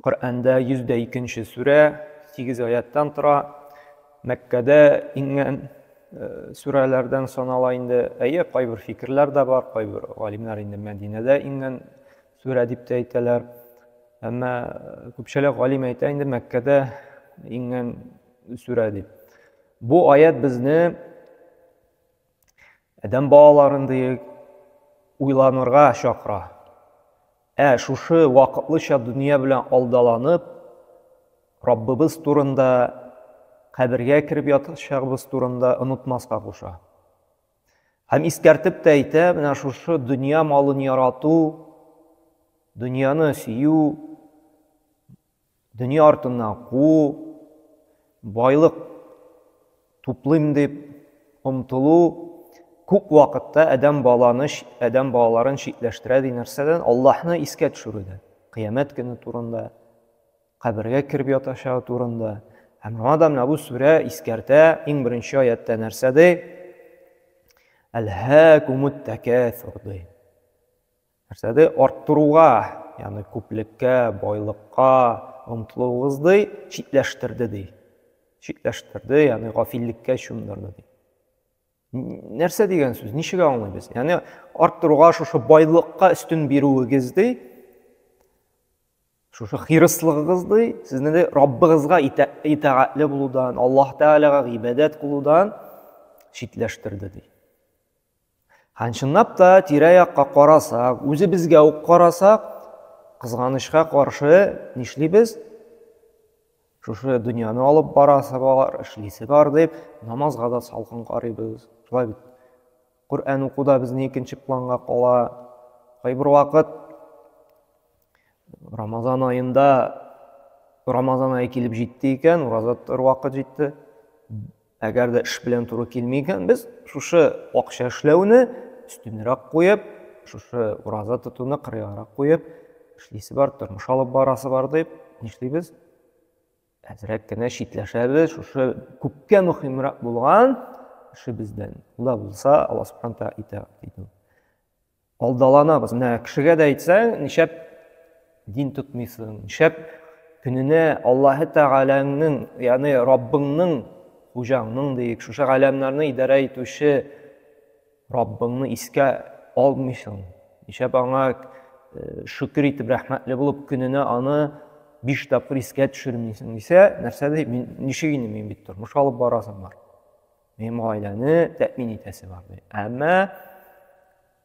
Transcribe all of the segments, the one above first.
Коръәндә 102 нче сүрә, 8 аяттан тора. Мәккәдә иңгән э, сүрәләрдән санала инде. Әйе, кайбер фикерләр дә бар, кайбер галимнәр инде Мәдинәдә иңгән сүрә дип тә әйтәләр. Әмма э, күпчелек галим әйтә инде Мәккәдә иңгән сүрә дип. Бу аят безне Адәм балаларын диек уйланырга чакыра. Ә шушы вакытлыча дөнья белән алдаланып, Раббыбыз турында, кабергә кереп ятачагыбыз турында онытмаска куша. Һәм искәртеп тә әйтә, менә шушы дөнья малын ярату, дөньяны сөю, Дөнья артыннан куу, байлык туплыйм дип омтылу күп вакытта адәм баланы, адәм балаларын читләштерә ди нәрсәдән? Аллаһны искә төшерүдән. Кыямәт көне турында, кабергә кереп ятачагы турында. Һәм моңа да менә бу сүрә искәртә, иң беренче аяттә нәрсә ди? Әлһәкумут тәкәсүр ди. Нәрсәдә арттыруга, ягъни күплеккә, байлыкка омтылуыгызды читләштерде ди. Читләштерде, ягъни гафиллеккә чумдырды ди. Нәрсә дигән сүз? Ничек аңлыйбыз? Ягъни арттыруга шушы байлыкка өстен бирүегезне шушы хирыслыгыгызны сезне дә Раббыгызга итагатьле булудан, Аллаһ Тәгаләгә гыйбадәт кылудан читләштерде ди. Һәм чынлап та тирә-якка карасак, үзебезгә үк карасак, кызганычка каршы нишлибез? Шушы дөньяны алып барасы бар, эшлисе бар дип, намазга да салкын карыйбыз. Шулай бит. Коръән уку да безнең икенче планга кала. Кайбер вакыт Рамазан аенда Рамазан ае килеп җитте икән, ураза тотар вакыт җитте. Әгәр дә эш белән туры килми икән, без шушы акча эшләүне өстенрәк куеп, шушы ураза тотуны кырыйгарак куеп, эшлисе бар, тормыш алып барасы бар дип, нишлибез? Әзрәк кенә читләшәбез, шушы күпкә мөһимрәк булган эшебездән. Ул да булса, Алла Субхану тәгалә итә, диде. Алдаланабыз. Менә кешегә дә әйтсәң, нишәп дин тотмыйсың, нишәп көненә Аллаһы Тәгаләңнең, ягъни Раббыңның, хуҗаңның диек, шушы галәмнәрне идарә итүче Раббыңны искә алмыйсың. Нишәп аңа э, шөкер итеп, рәхмәтле булып, көненә аны биш тапкыр искә төшермисең дисә, нәрсә ди, мин ничек инде мин бит тормыш алып барасым бар. Минем гаиләне тәэмин итәсе бар ди. Әмма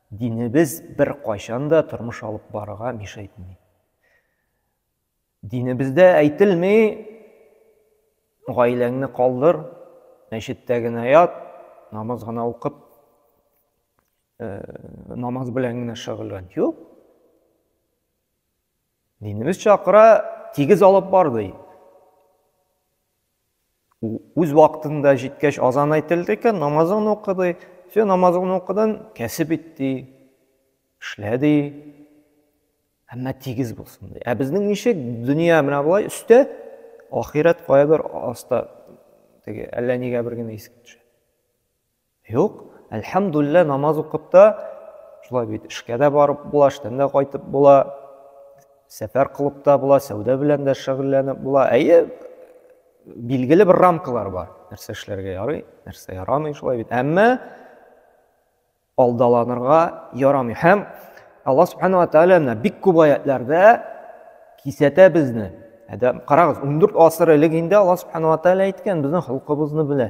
динебез бер кайчан да тормыш алып барырга миша итми. Динебездә әйтелми гаиләңне калдыр, мәчеттә генә ят, намаз гына укып, э, намаз белән генә шөгыльлән. Юк. Динебез чакыра, тигез алып бар, ди. Үз вакытында җиткәч азан әйтелде икән, намазын укыды. Все, намазын укыдан, кәсеп ит, ди. Эшлә, ди. Әмма тигез булсын, ди. Ә безнең ничек дөнья менә болай өстә, ахирәт каядыр аста. Теге әллә нигә бер генә искә төшә. Юк, әлхәмдуллә, намаз укып та, шулай бит эшкә дә барып була, эштән дә кайтып була, сәфәр кылып та була, сәүдә белән дә шөгыльләнеп була. Әйе, билгеле бер рамкалар бар. Нәрсә эшләргә ярый, нәрсә ярамый, шулай бит. Әмма алдаланырга ярамый. Һәм Аллаһ субханала тәгалә менә бик күп аятларда кисәтә безне. Әдәм, карагыз, 14 асыр элек инде Аллаһ субханала тәгалә әйткән, безнең холкыбызны белә.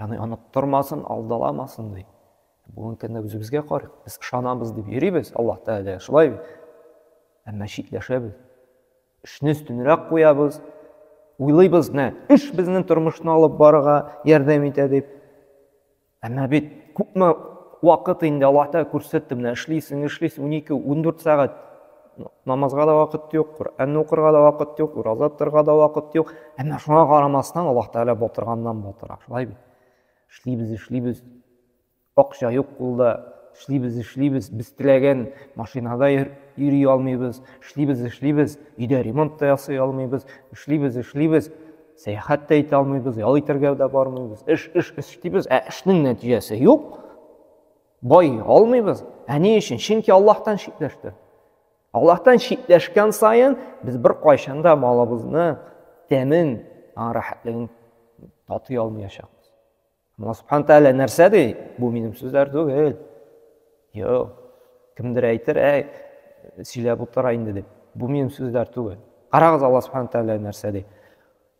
Яны оныттырмасын, алдаламасын ди. Бүгенге көндә үзебезгә карыйк. Без ышанабыз дип йөрибез, Аллаһ Тәгалә шулай бит. Әмма читләшәбез. Эшне өстенрәк куябыз. Уйлыйбыз, нә, эш безнең тормышны алып барырга ярдәм итә дип. Әмма бит күпме вакыт инде Аллаһ Тәгалә күрсәтте, менә эшлисең, эшлисең 12, 14 сәгать. намазга да вакыт юк коръәнне укырга да вакыт юк ураза тотарга да вакыт юк әмма шуңа карамастан аллаһ тәгалә батырганнан батыра шулай бит эшлибез эшлибез акча юк кулда эшлибез эшлибез без теләгән машинада йөри алмыйбыз эшлибез эшлибез өйдә ремонт та ясый алмыйбыз эшлибез эшлибез сәяхәт тә итә алмыйбыз ял итәргә дә бармыйбыз эш эш эш эшлибез ә эшнең нәтиҗәсе юк Бай алмыйбыз. Ә ни өчен? Чөнки Аллаһтан читләште. Аллаһтан читләшкән саен без бер кайчан да малыбызны тәмен, рәхәтлеген татый алмаячакбыз. Алла субхана тәгалә нәрсә ди? Бу минем сүзләр түгел. Юк. Кемдер әйтер, әй, сөйләп утыра инде дип. Бу минем сүзләр түгел. Карагыз, Алла субхана тәгалә нәрсә ди?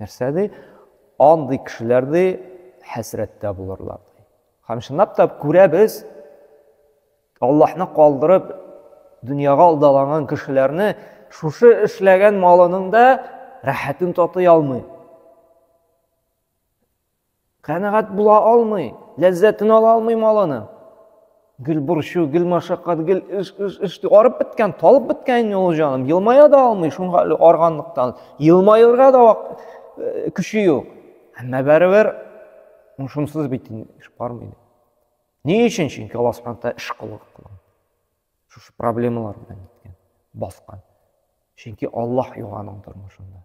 Нәрсә ди? Андый кешеләр ди хәсрәттә булырлар ди. Һәм чынлап та күрәбез, Аллаһны калдырып дөньяга алдаланган кешеләрне шушы эшләгән малының да рәхәтен татый алмый. Канәгать була алмый, ләззәтен ала алмый малының. Гел борчу, гел машакат, гел эш, эш, эш. Арып беткән, талып беткән инде ул җаным. Елмая да алмый, шуңа әле арганлыктан. Елмаерга да вак, э, көче юк. Әмма барыбер шунсыз бит инде эш бармый. Ни өчен? Чөнки Алла Субхану тааля эш кылган. Шушы проблемалар белән киткән, баскан. Чөнки Аллаһ юк аның тормышында.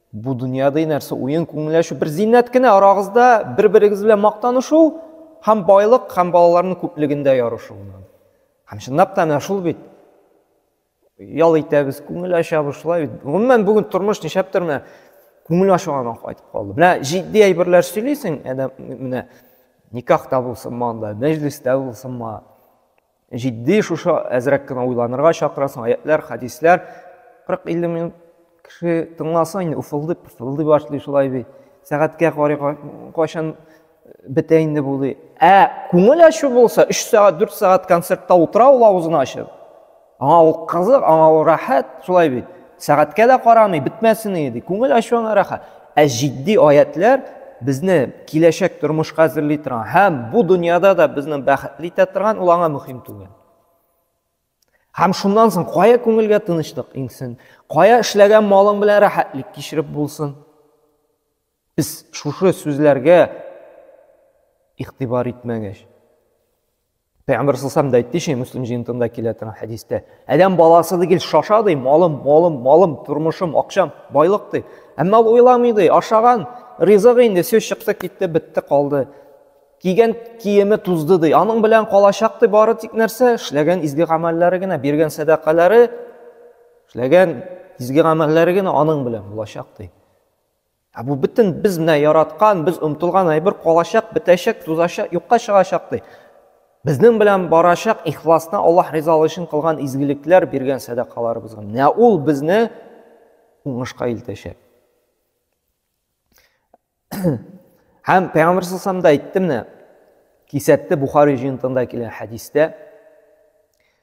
Бу дөньяда нәрсә уен күңелләшү бер зиннәт кенә арагызда бер-берегез белән мактанышу һәм байлык һәм балаларның күплегендә ярышу. Һәм чынлап та менә шул бит. Ял итәбез, күңел ачабыз шулай бит. Гомумән бүген тормыш нишләптер менә күңел ачуга кайтып калды. Менә җитди әйберләр сөйлисең, әдәм менә никахта булсынмы анда, мәҗлестә булсынмы. Җитди шушы әзрәк кенә уйланырга чакырасың, аятьләр, хәдисләр 40-50 минут кеше тыңласа инде уфылдый, пыфылдый башлый шулай бит. Сәгатькә карый кайчан бетә инде бу ди. Ә күңел ачу булса, 3 сәгать, 4 сәгать концертта утыра ул авызын ачып. Аңа ул кызык, аңа ул рәхәт, шулай бит. Сәгатькә дә карамый, бетмәсен иде. Күңел ачуыңа рәхәт. Ә җитди аятләр безне киләчәк тормышка әзерли торган һәм бу дөньяда да безне бәхетле итә торган, ул аңа мөһим түгел. Һәм шуннан соң кая күңелгә тынычлык иңсен, кая эшләгән малың белән рәхәтлек кичереп булсын. Без шушы сүзләргә игътибар итмәгәч, Пәйгамбер саллаллаху да әйтте шул Муслим җыентында килә торган хәдистә. Адәм баласы дигел шаша ди, малым, малым, малым, тормышым, акчам, байлык ди. Әмма ул уйламый ди, ашаган ризыгы инде сүз чыкты, китте, бетте, калды. Кигән киеме тузды ди. Аның белән калачак ди бары тик нәрсә? Эшләгән изге гамәлләре генә, биргән сәдакалары, эшләгән изге гамәлләре генә аның белән булачак ди. Ә бу бөтен без менә яраткан, без омтылган әйбер калачак, бетәчәк, тузачак, юкка чыгачак ди. Безнең белән барачак ихласны Аллаһ ризалыгы өчен кылган изгелекләр, биргән сәдакаларыбыз гына. Менә ул безне уңышка илтәчәк. Һәм Пәйгамбер саллаллаху да әйтте менә, кисәтте Бухари җыентыгында килгән хәдистә.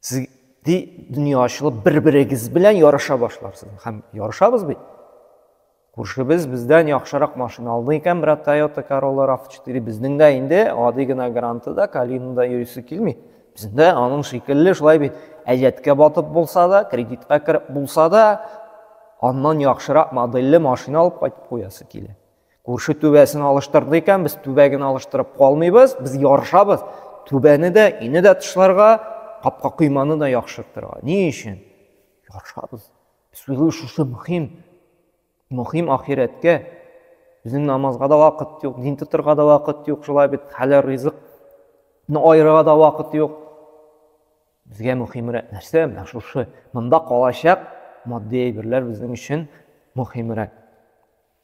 Сез ди дөнья ачылып бер-берегез белән ярыша башларсыз. Һәм ярышабыз бит. Күршебез бездән яхшырак машина алды икән, брат Toyota Corolla RAV4 безнең дә инде гади генә Гранты да, Калина да йөрисе килми. Безнең дә аның шикелле шулай бит. Әҗәткә батып булса да, кредитка кереп булса да, аннан яхшырак модельле машина алып кайтып куясы килә. Күрше түбәсен алыштырды икән, без түбә генә алыштырып калмыйбыз, без ярышабыз. Түбәне дә, өйне дә тышларга, капка койманы да яхшыртырга. Ни өчен? Ярышабыз. Без уйлыйбыз, шушы мөһим. Мөһим ахирәткә. Безнең намазга да вакыт юк, дин тотырга да вакыт юк, шулай бит хәләл ризыкны аерырга да вакыт юк. Безгә мөһимрәк нәрсә? Менә шушы монда калачак матди әйберләр безнең өчен мөһимрәк.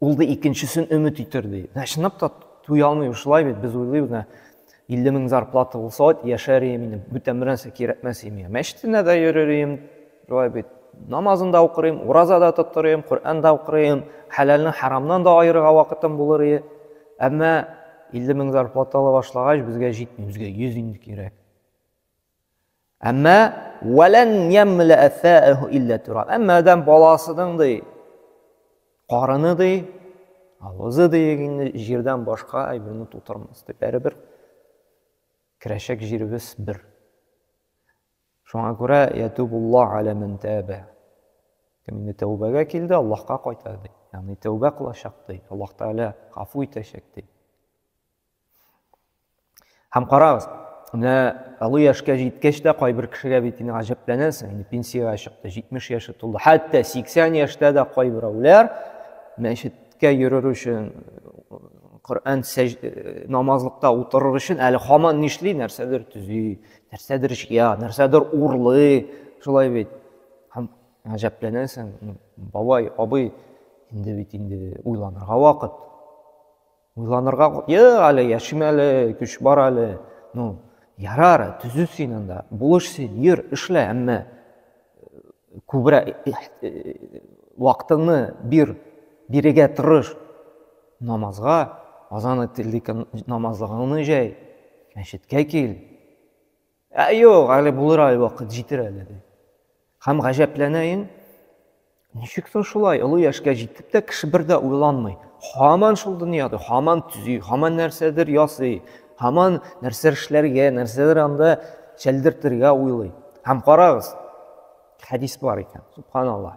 Ул да икенчесен өмет итер, ди. Ә чынлап та туя алмый шулай бит, без уйлыйбыз, менә 50 мең зарплата булса, вот яшәр идем инде, бүтән бернәрсә кирәкмәс иде миңа. Мәчетенә дә йөрер идем, шулай бит. Намазын да укыр идем, ураза да тотыр идем, Коръән дә укыр идем, хәләлне харамнан да аерырга вакытым булыр иде. Әмма 50 мең зарплата ала башлагач, безгә җитми, безгә 100 инде кирәк. Әмма вәлән ямләә фәәһу илля тураб. Әмма адәм баласының ди карыны ди, авызы ди инде җирдән башка әйберне тутырмас дип. Бәребер керәчәк җиребез бер. Шуңа күрә ятубулла аля ман таба. Кем инде тәүбәгә килде, Аллаһка кайта ди. Ягъни тәүбә кылачак ди. Аллаһ Тәгалә гафу итәчәк ди. Һәм карагыз, менә олы яшькә җиткәч тә кайбер кешегә бит инде гаҗәпләнәсең, инде пенсиягә чыкты, 70 яше тулды. Хәтта 80 яшьтә дә кайберәүләр мәчеткә йөрер өчен, Коръән э, намазлыкта утырыр өчен әле хаман нишли, нәрсәдер төзи, нәрсәдер җыя, нәрсәдер урлый, шулай бит. Һәм гаҗәпләнәсең, бабай, абый, инде бит инде уйланырга вакыт. Уйланырга, йык әле, яшим әле, көч бар әле. Ну, ярар, төзү син анда, булыш син, йөр, эшлә, әмма күбрәк вакытыңны бир, бирегә тырыш. Намазга, азан ителдек намазлыгыңны җәй, мәчеткә кил. Ә юк, әле булыр әле вакыт җитер әле ди. Һәм гаҗәпләнәен, ничек соң шулай олы яшькә җитеп тә кеше бер дә уйланмый. Һаман шул дөньяда, һаман төзи, һаман нәрсәдер ясый, һаман нәрсәдер эшләргә, нәрсәдер анда чәлдертергә уйлый. Һәм карагыз, хәдис бар икән, субханаллаһ.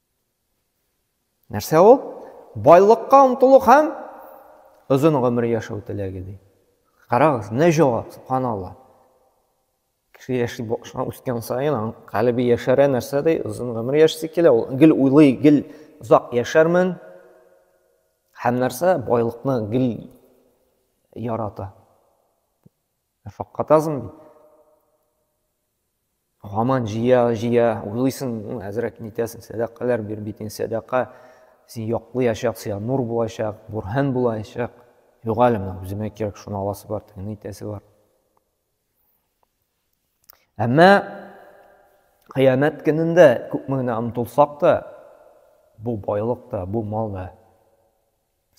Нәрсә ул? Байлыкка омтылу һәм озын гомер яшәү теләге ди. Карагыз, не җавап, субханалла. Кеше яши башлап үскән саен аның калебе яшәрә нәрсә ди, озын гомер яшәсе килә. Ул гел уйлый, гел озак яшәрмен. Һәм нәрсә? Байлыкны гел ярата. Факкатазм бит. Гаман җыя, җыя, уйлыйсың, ну, әзрәк нитәсең, сәдакалар бир бит, сәдака син яклыячак, сиңа нур булачак, бурһан булачак. Юк әле менә үземә кирәк, шуны аласы бар, тегене итәсе бар. Әмма кыямәт көнендә күпме генә омтылсак та, бу байлык та, бу мал да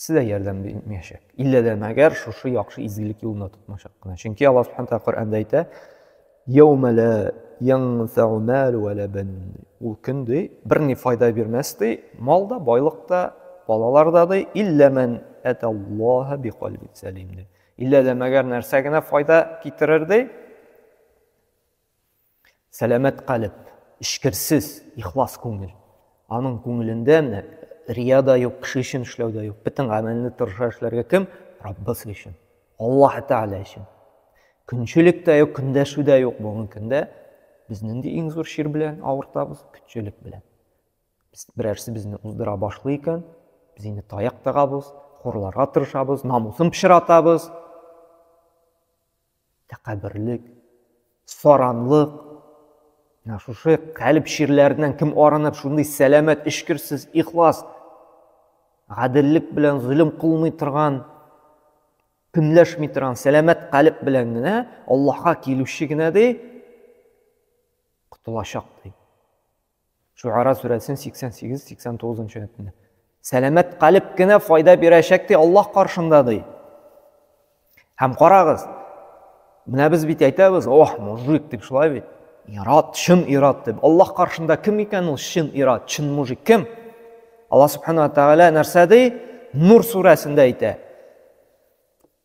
Сезгә ярдәм бирмәячәк. Иллә дә мәгәр шушы яхшы изгелек юлында тотмачак кына. Чөнки Аллаһ Субхану Тәгалә Коръәндә әйтә, "Яума ла янфау мал ва ла бан". Ул көн ди, берни файда бирмәс ди, мал да, байлык та, балалар да ди, иллә ман аталлаһа бикалбин салим ди. Иллә дә мәгәр нәрсә генә файда китерер ди? Сәламәт калеб, эчкерсез, ихлас күңел. Аның күңелендә менә рия да юк, кеше өчен эшләү дә юк. Бөтен гамәлне тырыша эшләргә кем? Раббысы өчен. Аллаһ Тәгалә өчен. Көнчелек тә юк, көндәшү дә юк булган көндә без нинди иң зур чир белән авыртабыз? Көнчелек белән. Без берәрсе безне уздыра башлый икән, без инде таяк тагабыз, хурларга тырышабыз, намусын пычратабыз. Тәкәбберлек, саранлык, менә шушы калеб чирләреннән кем арынып, шундый сәламәт, эчкерсез, ихлас, гаделлек белән зөлем кылмый торган, көнләшми торган, сәламәт калеб белән генә Аллаһка килүче генә ди, котылачак ди. Шуара сүрәсен 88-89 нчы әйтне. Сәламәт калеб кенә файда бирәчәк ди Аллаһ каршында ди. Һәм карагыз, менә без бит әйтәбез, ох, мужик дип шулай бит. Ират, чын ират дип. Аллаһ каршында кем икән ул чын ират, чын мужик кем? Аллаһ субхана тагала нәрсә ди? Нур сүрәсендә әйтә.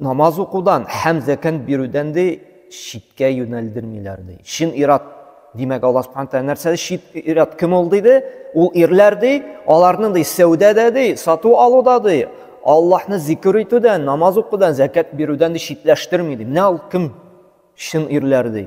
Намаз укудан һәм зәкәт бирүдән ди читкә юнәлдермиләр ди. Чын ират димәк Алла Субхану тәгалә нәрсәдә чит ират кем ул диде? Ул ирләр ди, аларның ди сәүдәдә ди, сату алуда ди, Аллаһны зикр итүдән, намаз укудан, зәкәт бирүдән ди читләштерми ди. Менә ул кем? Чын ирләр ди.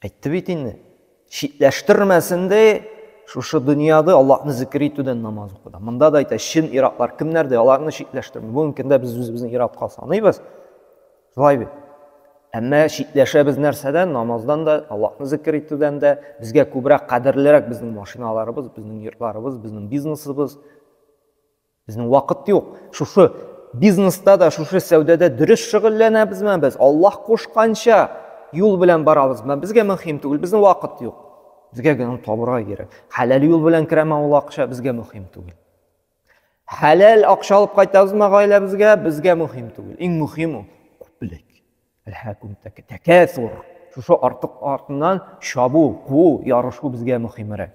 Әйтте бит инде. Читләштермәсен дә шушы дөньяда Аллаһны зикер итүдән намаз укуда. Монда да әйтә, чын иратлар кемнәрдә? Аларны читләштерми. Бүгенге көндә без үзебезне иратка саныйбыз. Шулай бит. Әмма читләшәбез нәрсәдән? Намаздан да, Аллаһны зикер итүдән дә. Безгә күбрәк кадерлерәк безнең машиналарыбыз, безнең йортларыбыз, безнең бизнесыбыз. Безнең вакыт юк. Шушы бизнеста да, шушы сәүдәдә дөрес шөгыльләнәбезме без? Аллаһ кушканча юл белән барабызмы? Безгә мөһим түгел, безнең вакыт юк. Безгә генә табырга кирәк. Хәләл юл белән керәме ул акча, безгә мөһим түгел. Хәләл акча алып кайтабызмы гаиләбезгә, безгә мөһим түгел. Иң мөһим ул күплек. Әлхәкүм тәкәсур. Шушы артык артыннан чабу, куу, ярышу безгә мөһимрәк.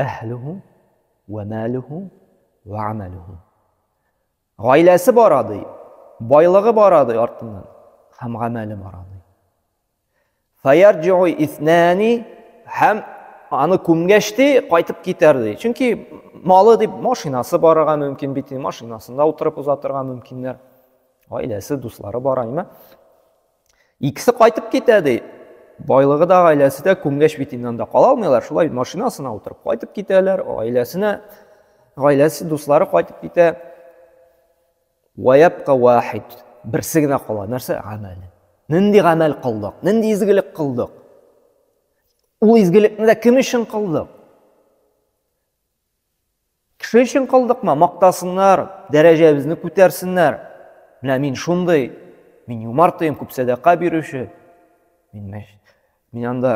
Әһлүһү вә мәлүһү вә амәлүһү. Гаиләсе бара ди, байлыгы бара ди артыннан, һәм гамәле бара ди. Фаярҗиу иснәни һәм аны күмгәч ди, кайтып китәр ди. Чөнки малы дип машинасы барырга мөмкин бит, машинасында утырып уза торган мөмкиннәр. Гаиләсе, дуслары бар, әйме? Икесе кайтып китә, ди. Байлыгы да, гаиләсе дә күмгәч бит инде анда кала алмыйлар. Шулай машинасына утырып кайтып китәләр, гаиләсенә, гаиләсе, дуслары кайтып китә. Ваябка вахид. Берсе генә кала. Нәрсә? Гамәл. Нинди гамәл кылдык? Нинди изгелек кылдык? Ул изгелекне дә кем өчен кылдык? Кеше өчен кылдыкмы? Мактасыннар, дәрәҗәбезне күтәрсеннәр. Менә мин шундый, мин юмарт тыйм, күп сәдака бирүче. Мин мәш... мин анда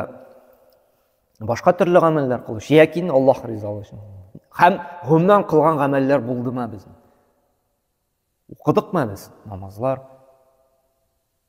башка төрле гамәлләр кылучы, яки Аллаһ ризалыгы өчен. Һәм гомумән кылган гамәлләр булдымы безнең? Укыдыкмы без намазлар?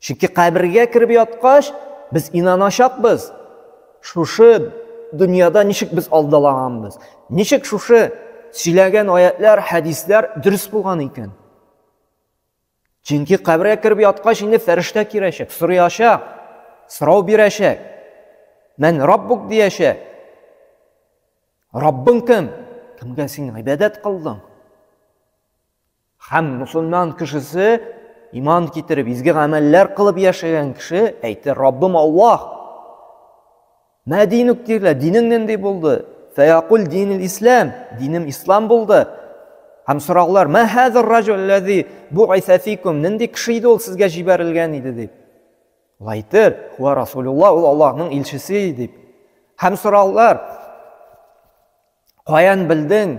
Чөнки кабергә кереп яткач, без инаначакбыз, шушы дөньяда ничек без алдалаганбыз, ничек шушы сөйләгән аятлар, хәдисләр дөрес булган икән. Чөнки кабергә кереп яткач, инде фәрештә кирәчәк, сорыячак, сорау бирәчәк. Мен Раббук дияшә. Раббың кем? Кемгә син гыйбадәт кылдың? Һәм мусульман кешесе иман китереп, изге гамәлләр кылып яшәгән кеше әйтте, Раббым Аллаһ, мә динук дирлә, динең нинди булды? Фәякул динил ислам, динем ислам булды. Һәм сораулар, мә хәзер раҗул ләзи бу айсәфикум, нинди кеше иде ул сезгә җибәрелгән иде дип. Ул әйтер, хуа Расулулла, ул Аллаһның илчесе дип. Һәм сораулар, каян белдең,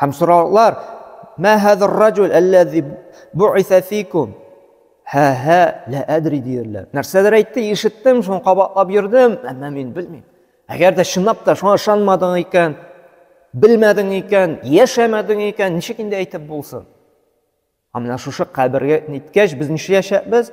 Һәм сораулар, Мә хәзер раҗул әлләзи буиса фикум? Һә һә лә әдри диярләр. Нәрсәдер әйтте, ишеттем, шуны кабатлап йөрдем, әмма мин белмим. Әгәр дә чынлап та шуңа ышанмадың икән, белмәдең икән, яшәмәдең икән, ничек инде әйтеп булсын? Ә менә шушы кабергә ниткәч без нишләячәкбез?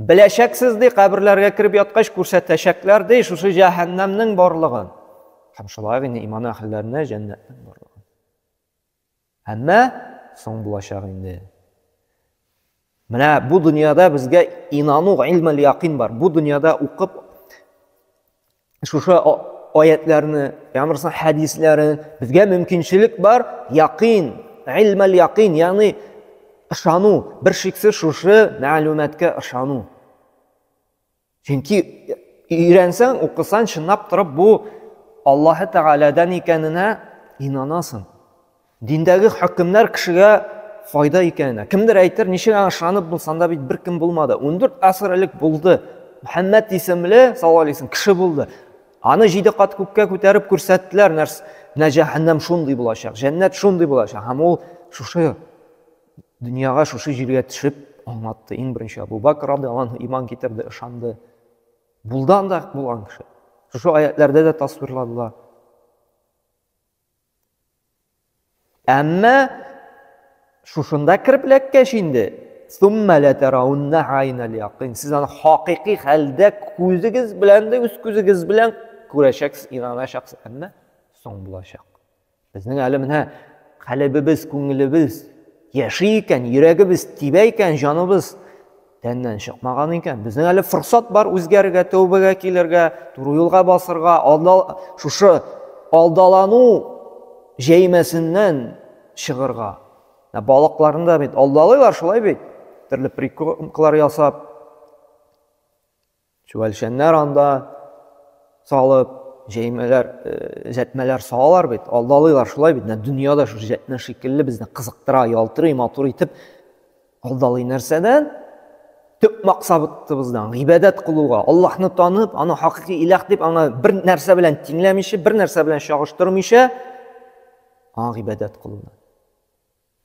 Беләчәксез, ди, каберләргә кереп яткач күрсәтәчәкләр, ди, шушы җәһәннәмнең барлыгын. Һәм шулай гына иман әһелләренә җәннәтнең барлыгын. Әмма соң булачак инде. Менә бу дөньяда безгә инану, илмәл якин бар. Бу дөньяда укып шушы аятләрне янрса хәдисләрен безгә мөмкинчелек бар яқин илмәл яқин ягъни ышану бер шиксез шушы мәгълүматка ышану чөнки өйрәнсәң укысаң чынлап торып бу аллаһы тәгаләдән икәненә инанасың Диндәге хөкемнәр кешегә файда икәненә. Кемдер әйтер, ничек аңа ышанып булсын, анда бит беркем булмады. 14 асыр элек булды. Мөхәммәд исемле, саллаллаһу алейһи кеше булды. Аны җиде кат күккә күтәреп күрсәттеләр, нәрс, менә җәһәннәм шундый булачак, җәннәт шундый булачак. Һәм ул шушы дөньяга, шушы җиргә төшеп аңлатты. Иң беренче Абу Бакр радиаллаһу иман китерде, ышанды. Булды анда булган кеше. Шушы аятләрдә дә тасвирладылар. Әмма шушында кереп эләккәч инде, сумма ла тараунна айнал якин. Сез аны хакыйкый хәлдә күзегез белән дә үз күзегез белән күрәчәксез, инаначаксыз. Әмма соң булачак. Безнең әле менә калебебез, күңелебез яши икән, йөрәгебез тибә икән, җаныбыз Тәннән чыкмаган икән. Безнең әле форсат бар үзгәрергә, тәүбәгә килергә, туры юлга басырга, алдал шушы алдалану җәймәсеннән чыгырга. Ә балыкларны да бит алдалыйлар шулай бит. Төрле приколкалар ясап. Чүәлшәннәр анда салып, җәймәләр, җәтмәләр салалар бит, алдалыйлар шулай бит. Дөнья да шушы җәтмә шикелле безне кызыктыра, ялтырый, матур итеп алдалый нәрсәдән? Төп максатыбыздан, гыйбадәт кылуга, Аллаһны танып, аны хакыйкы илах дип, аңа бер нәрсә белән тиңләмичә, бер нәрсә белән чагыштырмыйча, аңа гыйбадәт кылудан.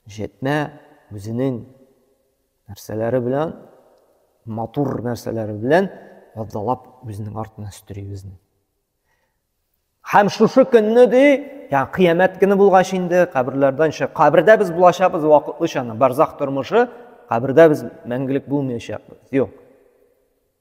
Җәтмә үзенең нәрсәләре белән, матур нәрсәләре белән файдалап үзенең артына өстери безне. Һәм шушы көнне ди, ягъни кыямәт көне булгач инде каберләрдән чык. Кабердә без булачакбыз вакытлыча, барзах тормышы, кабердә без мәңгелек булмаячакбыз. Юк.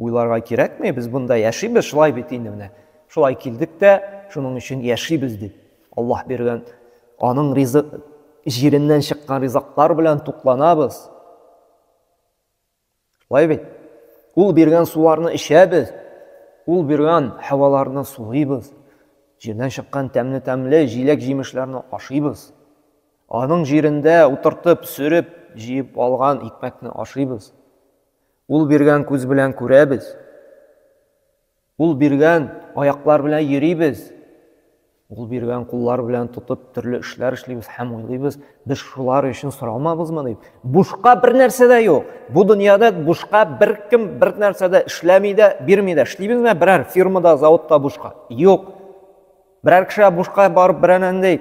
Уйларга кирәкми, без бунда яшибез, шулай бит инде менә. Шулай килдек тә, шуның өчен яшибез дип. Аллаһ биргән, аның ризык җиреннән чыккан ризыклар белән тукланабыз. Шулай бит. Ул биргән суларны эчәбез, ул биргән һаваларны сулыйбыз. Җирдән чыккан тәмле-тәмле җиләк-җимешләрне ашыйбыз. Аның җирендә утыртып, сөреп, җыеп алган икмәкне ашыйбыз. Ул биргән күз белән күрәбез, Ул биргән аяклар белән йөрибез, Ул биргән куллар белән тотып төрле эшләр эшлибез һәм уйлыйбыз, без шулар өчен соралмабызмы дип. Бушка бер нәрсә дә юк. Бу дөньяда бушка беркем бер нәрсә дә эшләми дә, бирми дә. Эшлибезме берәр фирмада, заводта бушка? Юк. Берәр кешегә бушка барып берәр андый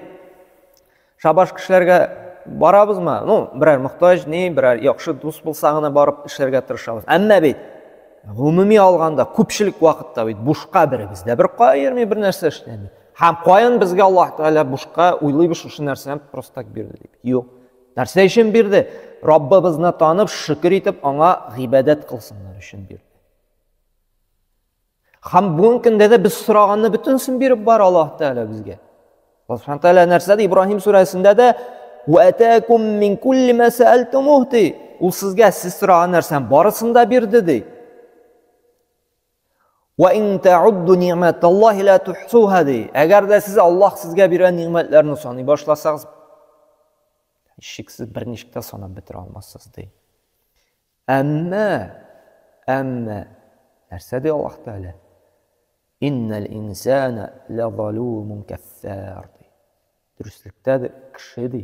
Шабаш кешеләргә барабызмы? Ну, берәр мохтаҗ, ни, берәр яхшы дус булса гына барып эшләргә тырышабыз. Әмма бит гомуми алганда күпчелек вакытта бит бушка беребез дә бер кая йөрми, бер нәрсә эшләми. Һәм каян безгә Аллаһ Тәгалә бушка уйлыйбыз шушы нәрсәне просто так бирде дип. Юк. Нәрсә өчен бирде? Раббыбызны танып, шөкер итеп, аңа гыйбадәт кылсыннар өчен бирде. Һәм бүгенге көндә дә без сораганны бөтенесен биреп бар Аллаһ Тәгалә безгә. Аллаһ Субхану Тәгалә нәрсә ди? Ибраһим сүрәсендә дә «Уәтәкум мин кулли мә сәәлтумух» ди. Ул сезгә сез сораган нәрсәнең барысын да бирде ди. «Ва ин таудду ниъмәталлахи ла тухсуха» ди. Әгәр дә сез Аллаһ сезгә биргән ниъмәтләрне саный башласагыз, шиксез берничек тә санап бетерә алмассыз ди. Әмма, әмма, нәрсә ди Аллаһ Тәгалә? Иннәл инсана лазалумун каффар. Дөреслекдә дә кеше ди,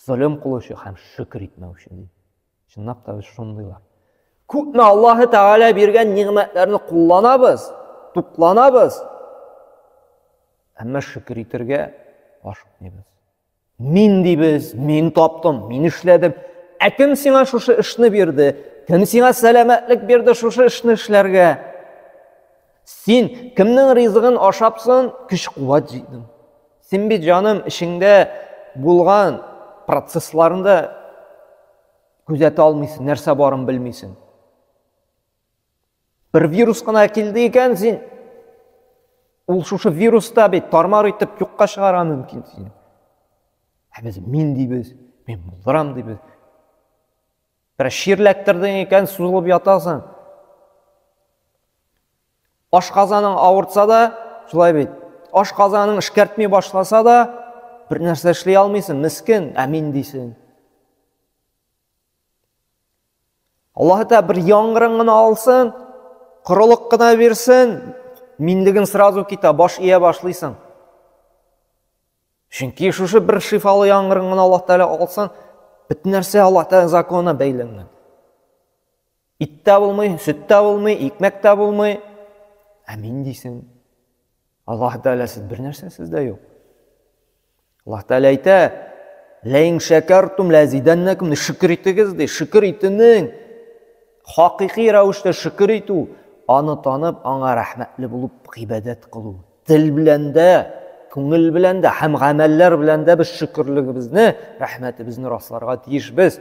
золым кылучы һәм шөкер итмәүче ди. Чынлап та без шундыйлар. Күпме Аллаһ Тәгалә биргән нигъмәтләрне кулланабыз, тукланабыз, әмма шөкер итергә ашыкмыйбыз. Мин дибез, мин таптым, мин эшләдем. Ә кем сиңа шушы эшне бирде? Кем сиңа сәламәтлек бирде шушы эшне эшләргә? Син кемнең ризыгын ашапсын, көч-куәт җыйдың. Син бит җаным эшеңдә булган процессларында күзәтә алмыйсың, нәрсә барын белмисең. Бер вирус кына килде икән син, ул шушы вируста бит тармар итеп юкка чыгара мөмкин сине. Ә без мин дибез, мин булдырам дибез. Бер ширләттердең икән, сузылып ятасың. Ашказаның авыртса да, шулай бит. Ашказаның эшкәртми башласа да, бер нәрсә эшли алмыйсың, мискен, ә мин дисең. Аллаһы Тәгалә бер яңгырын гына алсын, корылык кына бирсен, минлеген сразу китә, баш ия башлыйсың. Чөнки шушы бер шифалы яңгырын гына Аллаһ Тәгалә алсын, бөтен нәрсә Аллаһ Тәгалә законына бәйләнгән. Ит тә булмый, сөт тә булмый, икмәк тә булмый. Ә мин дисең, Аллаһ Тәгаләсез бер нәрсәсез дә юк. Аллаһ Тәгалә әйтә, Ләин шәкәртум ләзидәннәкүм, шөкер итегез, ди, шөкер итүнең, хакыйкый рәвештә шөкер итү, аны танып, аңа рәхмәтле булып гыйбадәт кылу. Тел белән дә, күңел белән дә һәм гамәлләр белән дә без шөкерлегебезне, рәхмәтебезне расларга тиешбез.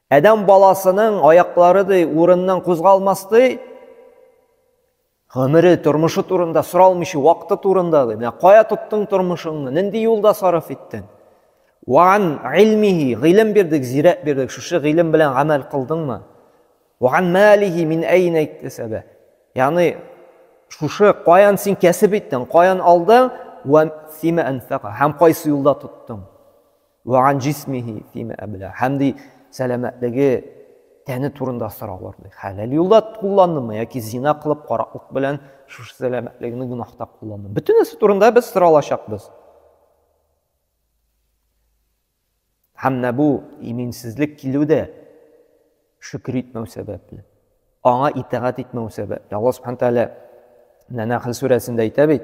Адәм баласының аяклары ди урыннан кузгалмас ди. Гомере, тормышы турында соралмыйча, вакыты турында ди. Менә кая тоттың тормышыңны, нинди юлда сарыф иттең? Ван илмихи, гыйлем бирдек, зирәк бирдек, шушы гыйлем белән гамәл кылдыңмы? Ван малихи мин әйнә иктесәбә. Ягъни шушы каян син кәсеп иттең, каян алдың, ва фима анфака, һәм кайсы юлда тоттың? Вә ан җисмихи фима әблә. Һәм ди, сәламәтлеге, тәне турында сораулар ди. Хәләл юлда кулландымы яки зина кылып, караклык белән шушы сәламәтлегеңне гөнаһта кулландымы? Бөтенесе турында без соралачакбыз. Һәм менә бу иминсезлек килү дә шөкер итмәү сәбәпле. Аңа итагать итмәү сәбәпле. Алла Субхану тәгалә Нәхл сүрәсендә әйтә бит,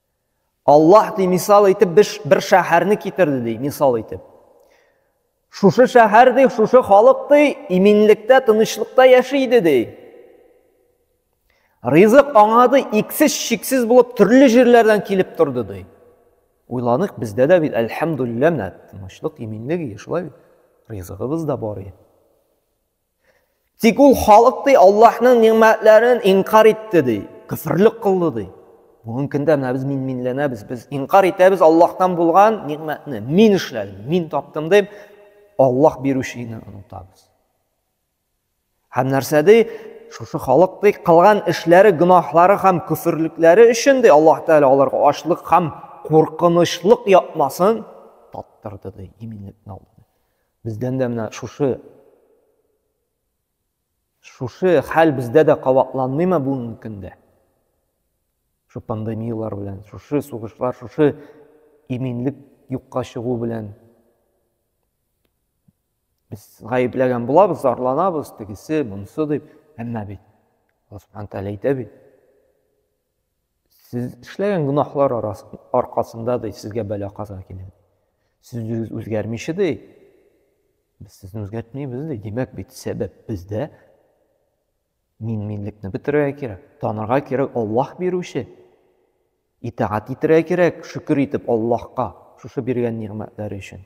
Аллаһ ди мисал итеп беш бер шәһәрне китерде ди мисал итеп. Шушы шәһәр ди, шушы халык ди иминлектә, тынычлыкта яши иде ди. Ризык аңа ди иксез шиксез булып төрле җирләрдән килеп торды ди. Уйланык бездә дә бит әлхәмдулилләһ менә тынычлык, иминлек ие шулай. Ризыгыбыз да бар ие. Тик ул халык ди Аллаһның нигъмәтләрен инкар итте ди, кифрлек кылды ди. Бүгенге көндә менә без мин-минләнәбез, без инкар итәбез Аллаһтан булган нигъмәтне. Мин эшләдем, мин таптым дип, Аллаһ бирүчене онытабыз. Һәм нәрсә ди? Шушы халык ди кылган эшләре, гөнаһлары һәм күферлекләре өчен ди Аллаһ Тәгалә аларга ашлык һәм куркынычлык япмасын таттырды ди, иминлекне алды. Бездән дә менә шушы шушы хәл бездә дә кабатланмыймы бүгенге көндә? Шу пандемияләр белән, шушы сугышлар, шушы иминлек юкка чыгу белән без гаепләгән булабыз, зарланабыз, тегесе, монысы дип, әмма бит Алла Субхану тәгалә әйтә бит. Сез эшләгән гөнаһлар аркасында ди сезгә бәла каза килә. Сез үзегез үзгәрмичә ди. Без сезне үзгәртмибез ди. Димәк бит сәбәп бездә. Мин минлекне бетерергә кирәк. Танырга кирәк Аллаһ бирүче. Итагать итәргә кирәк, шөкер итеп Аллаһка шушы биргән нигъмәтләре өчен.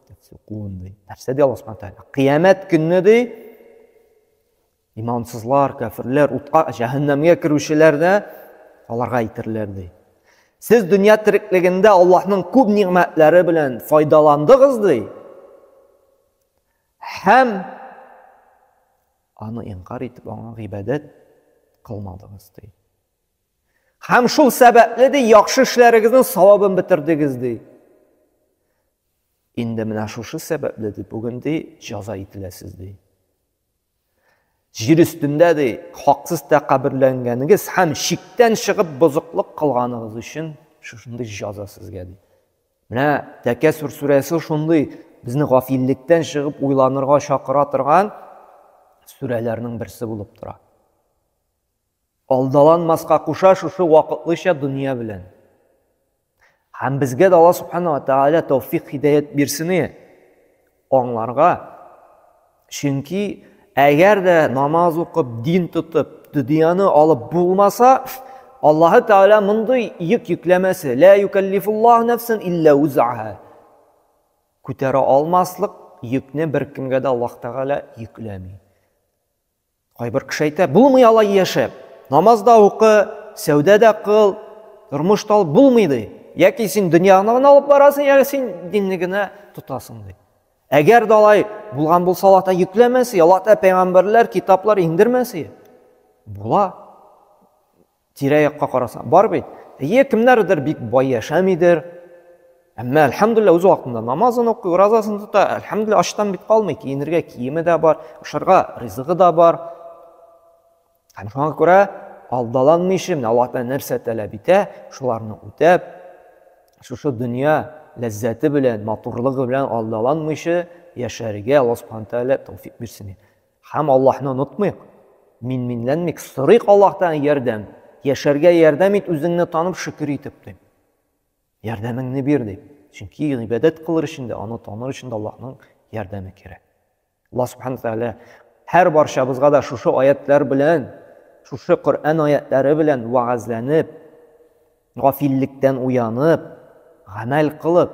Тәтсукун ди. Нәрсә ди Аллаһ Субхану тәгалә? Кыямәт көнне ди, имансызлар, кәфирләр, утка, җәһәннәмгә керүчеләр дә аларга әйтерләр ди. Сез дөнья тереклегендә Аллаһның күп нигъмәтләре белән файдаландыгыз ди. Һәм аны инкар итеп аңа гыйбадәт кылмадыгыз ди. Һәм шул сәбәпле ди, яхшы эшләрегезнең савабын бетердегез ди. Инде менә шушы сәбәпле ди, бүген ди, җәза ителәсез ди. Җир өстендә ди, хаксыз тәкаберләнгәнегез һәм шиктән чыгып бозыклык кылганыгыз өчен шушындый җәза сезгә ди. Менә Тәкәсүр сүрәсе шундый безне гафиллектән чыгып уйланырга чакыра торган сүрәләрнең берсе булып тора. Алдаланмаска куша шушы вакытлыча дөнья белән. Һәм безгә дә Алла Субхана ва Тәгалә тәүфик хидәят бирсен аңларга. Чөнки әгәр дә намаз укып, дин тотып, дөньяны алып булмаса, Аллаһы Тәгалә мондый йөк йөкләмәсе, лә юкәллифуллаһу нәфсән илля узаһа. Күтәрә алмаслык йөкне беркемгә дә Аллаһ Тәгалә йөкләми. Кайбер кеше әйтә, булмый алай яшәп. Намаз да укы, сәүдә дә кыл, тормыш тал булмый ди. Яки син дөньяны гына алып барасың, яки син динне генә тотасың ди. Әгәр дә алай булган булса, Аллаһ та йөкләмәсе, Аллаһ та пәйгамбәрләр, китаплар иңдермәсе. Була. Тирә-якка карасаң, бар бит. Әйе, кемнәрдер бик бай яшәмидер. Әмма, әлхәмдулилла, үз вакытында намазын укый, уразасын тота, әлхәмдулилла, ачтан бит калмый, киенергә киеме дә бар, ашарга ризыгы да бар. Һәм шуңа күрә алдаланмый ише, менә Аллаһ Тәгалә нәрсә таләп итә, шуларны үтәп, шушы дөнья ләззәте белән, матурлыгы белән алдаланмыйча яшәргә Аллаһ Субхану Тәгалә тәүфик бирсен. Һәм Аллаһны онытмыйк. Минминләнмик, сорыйк Аллаһтан ярдәм. Яшәргә ярдәм ит үзеңне танып шөкер итеп, дип. Ярдәмеңне бир, дип. Чөнки гыйбадәт кылыр өчен дә, аны таныр өчен дә Аллаһның ярдәме кирәк. Аллаһ Субхану Тәгалә һәр барчабызга да шушы аятлар белән, шушы Коръән аятлары белән вәгазьләнеп, гафиллектән уянып, гамәл кылып,